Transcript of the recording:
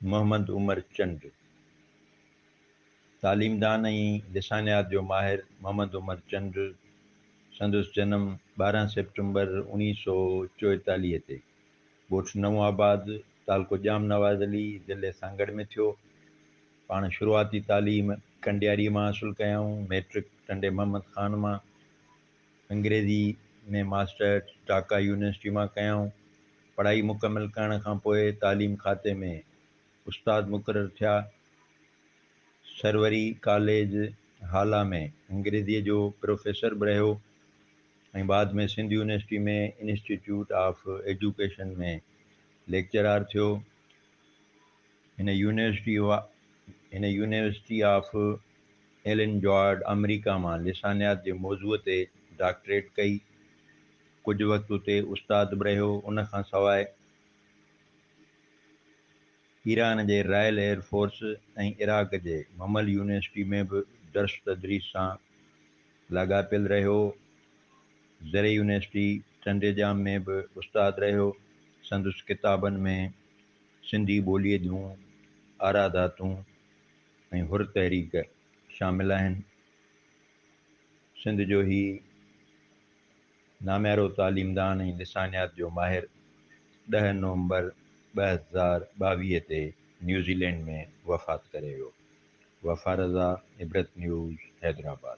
محمد عمر چنڊ، تعليمدان ۽ لسانيات جو ماهر محمد عمر چنڊ، سندس جنم ٻارهن سيپٽمبر اوڻيهه سؤ چوئيتاليهه تي ڳوٺ نئون آباد، تعلقو ڄام نواز علي، ضلعي سانگهڙ ۾ ٿيو. پاڻ شروعاتي تعليم ڪنڊياري مان حاصل ڪيائون، مئٽرڪ ٽنڊي محمد خان مان، انگريزي ۾ ماسٽرس ڍاڪا يونيورسٽي مان ڪيائون. پڙهائي مڪمل ڪرڻ کان پوء تعليم کاتي ۾ استاد مقرر ٿيا. سروري ڪاليج هالا ۾ انگريزيء جو پروفيسر به رهيو. ۽ بعد ۾ Sindh university ۾ institute of education ۾ lecturer ٿيو. هن يونيورسٽي هن يونيورسٽي آف ايلن جوارڊ آمريڪا مان لسانيات جي موضوع تي ڊاڪٽريٽ ڪئي. ڪجهه وقت اتي استاد به رهيو. ان کان سواء ايران جي رائل ايئر فورس ۽ عراق جي ممل يونيورسٽي ۾ به درس تدريس سان لاڳاپيل رهيو. زرعي يونيورسٽي ٽنڊي ڄام ۾ به استاد رهيو. سندس ڪتابن ۾ سنڌي ٻوليء جون آراداتون ۽ حر تحريڪ شامل آهن. سنڌ جو هي. ناميارو تعليمدان ۽ لسانيات جو ماهر ڏهه نومبر ٻه هزار ٻاويهه تي نيوزيلينڊ ۾ وفات ڪري ويو. وفا رضا، عبرت نيوز، حيدرآباد.